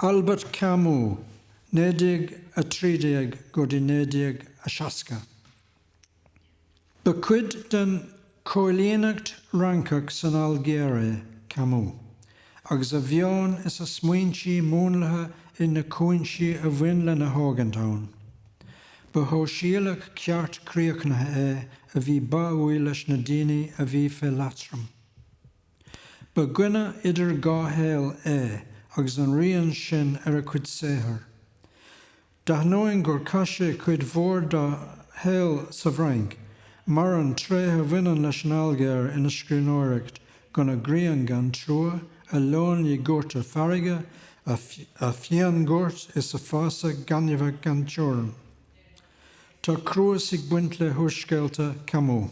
Albert Camus, 1913 go dtí 1960. Ba chuid den choilíneacht Fhrancach san Ailgéir é Camus, agus a mheon is a smaointí múnlaithe ag na cúinsí a bhain lena thógaint ann. Ba shóisialach ceart críochnaithe é a bhí báúil leis na daoine a bhí fé leatrom. Ba dhuine idir dhá shaol é agus an rian sin ar a chuid saothar. D'ainneoin gur chaith sé cuid mhór dá shaol sa bhFrainc, maireann tréithe a bhaineann leis an Ailgéir ina scríbhneoireacht, gona grian gan trua, a leoithní goirte farraige, a fíonghoirt is a fásach gainmheach gan teorainn. Tá cruas ag baint le húrscéalta Camus.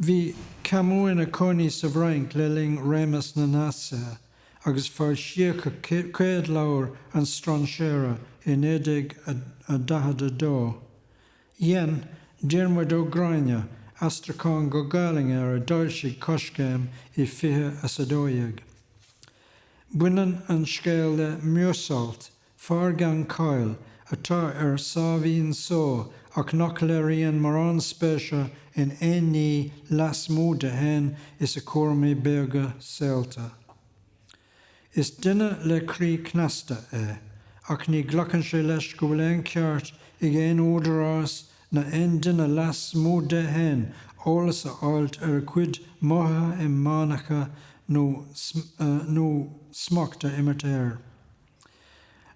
Bhí Camus ina cónaí sa bhFrainc le linn réimeas na Naitsithe, agus foilsíodh a chéad leabhar An Strainséara i 1942. Dhein Diarmuid Ó Gráinne aistriúchán go Gaelainn air a d'fhoilsigh Coiscéim i fiche is a dó dhéag. Baineann an scéal le Meursault, Fear gan cháil, atá ar sáimhín só ach nach léiríonn mórán spéise in aon ní lasmuigh de fhéin is a chúraimí beaga saolta. Is duine le croí cneasta é, ach ní ghlacann sé leis go bhfuil aon cheart ag aon údarás ná aon duine lasmuigh de fhéin eolas a fháilt ar a chuid mothaithe inmheánacha nó smacht a imirt air.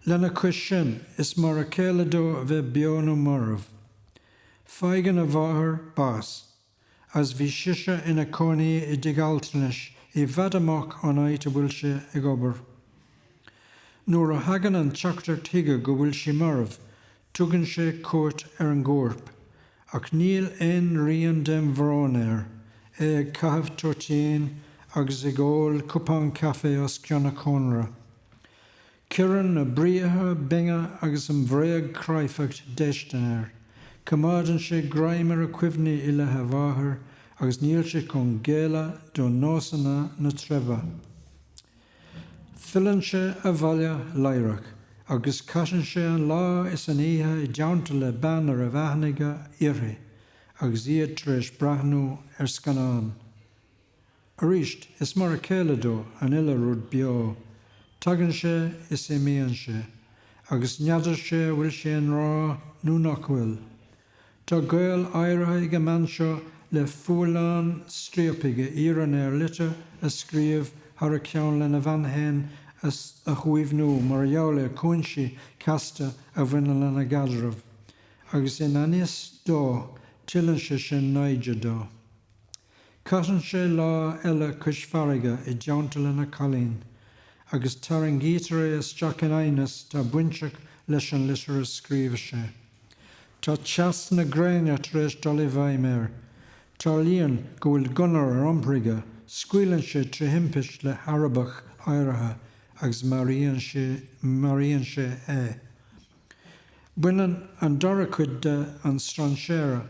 Lena chois sin, is mar a chéile dó a bheith beo nó marbh. Faigheann a mháthair bás, agus bhí sise ina cónaí i dtigh altranais i bhfad amach ón áit a bhfuil sé ag obair. Nuair a thagann an teachtaireacht chuige go bhfuil sí marbh, Tugann sé cuairt ar an gcorp, ach níl aon rian den bhrón air, é ag caitheamh toitín agus ag ól cupán caife os cionn an chónra. Cuireann na briathra binne agus an bhréagchráifeacht déistin air, coimeádann sé greim ar a chuimhní i leith a mháthair agus níl sé chun géilleadh do nósanna na treibhe. Filleann sé abhaile laithreach agus caitheann sé an lá is an oíche i dteannta le bean a raibh aithne aige uirthi agus iad tar éis breathnú ar scannán. Arís, is mar a chéile dó an uile rud beo, tagann sé is imíonn sé, agus n'fheadar sé an bhfuil sé i ngrá nó nach bhfuil. Tá gaol áirithe ag an mbean seo le fualán striapaigh a iarrann air litir a scríobh thar a cheann lena bhean fhéin a shuaimhniú mar gheall ar chúinsí casta a bhaineann lena gcaidreamh, agus i ngan fhios dó tuilleann sé sin naimhde dó. Caitheann sé lá eile cois farraige i dteannta lena chailín, agus tarraingítear é isteach in aighneas atá bainteach leis an litir a scríobh sé. Tá teas na gréine tar éis dul i bhfeidhm air. Tarlaíonn go bhfuil gunna ar iompar aige, scaoileann sé trí thimpist le hArabach áirithe agus maraíonn sé maraíonn sé é. Baineann an dara cuid de An Strainséara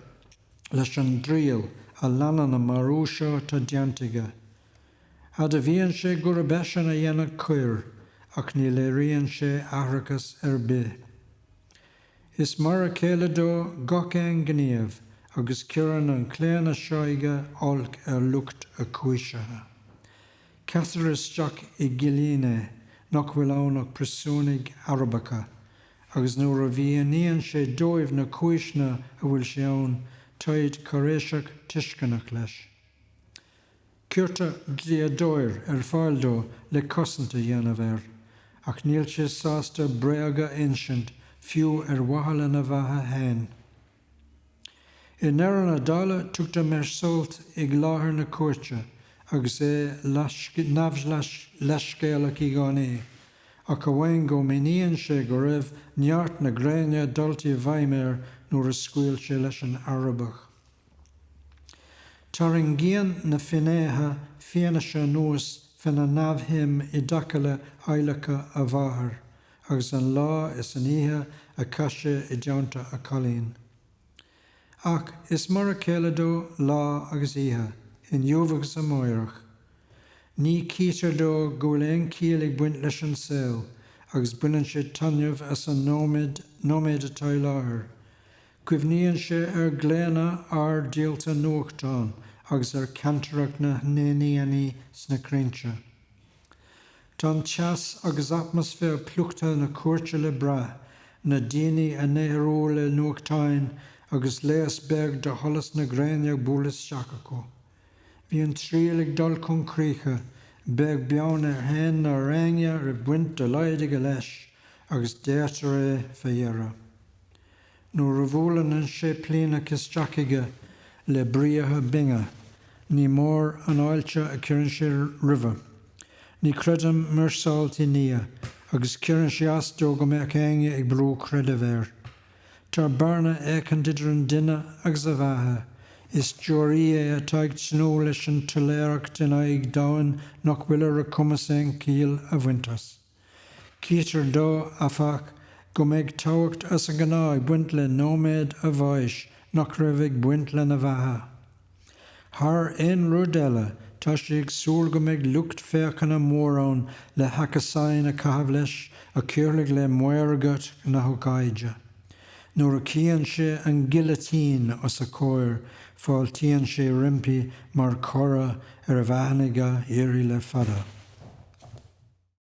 leis an dtriail a leanann an marú seo atá déanta aige. Admhaíonn sé gurb eisean a dhein an choir ach ní léiríonn sé aithreachas ar bith. Is mar a chéile dó gach aon ghníomh agus cuireann an claonadh seo aige olc ar lucht a chúisithe. Caitear isteach i gcillín é, nach bhfuil ann ach príosúnaigh Arabacha, agus nuair a mhíníonn sé dóibh na cúiseanna a bhfuil sé ann, táid cáiréiseach tuisceanach leis. Cuirtear dlíodóir ar fáil dó le cosaint a dhéanamh air, ach níl sé sásta bréag a insint, fiú ar mhaithe lena bheatha féin. I ndeireadh na dála, tugtar Meursault ag láthair na cúirte agus é neamhleithscéalach i gcónaí, ach amháin go míníonn sé go raibh neart na gréine dulta i bhfeidhm air nuair a scaoil sé leis an Arabach. Tarraingíonn na finnéithe fianaise anuas féna neamhshuim i dtaca le adhlacadh a mháthair, agus an lá is an oíche a chaith sé i dteannta a chailín. Ach is mar a chéile dó lá agus oíche, inniu agus amáireach. Ní chítear dó go bhfuil aon chiall ag baint leis an saol agus baineann sé taitneamh as an nóiméad atá i láthair. Cuimhníonn sé ar ghlaonna fhear díolta nuachtán agus ar chantaireacht na n-éiníní sna crainnte. Tá an teas agus atmaisféar plúchta na cúirte le brath, na daoine á n-aerú le nuachtáin agus léas beag de sholas na gréine ag bualadh isteach acu. Bhí an triail ag dul chun críche, beag beann air fhéin ná raibh aon bhaint dá laghad aige leis agus daortar é fé dheireadh. Nuair a bhuaileann an séiplíneach isteach aige le briathra binne, ní mór an fháilte a chuireann sé roimhe. Ní chreideann Meursault i nDia, agus cuireann sé as dó go mbeadh éinne ag brú creideamh air. Tá bearna éicint idir an duine agus a bheatha, is deoraí é atá ag tnúth leis an tsoiléireacht in aghaidh domhain nach bhfuil ar a chumas aon chiall a bhaint as. Chítear dó, áfach, go mbeidh tábhacht as an ngnáth ag baint le nóiméad a bháis nach raibh ag baint lena bheatha. Thar aon rud eile, tá sé ag súil go mbeidh lucht féachana mór ann le hachasáin a chaitheamh leis a chuirfidh le maorgacht na hócáide. Nuair a chíonn sé an gilitín os a chomhair, fáiltíonn sé roimpi mar chora ar a bheatha a bhí á iarraidh le fada.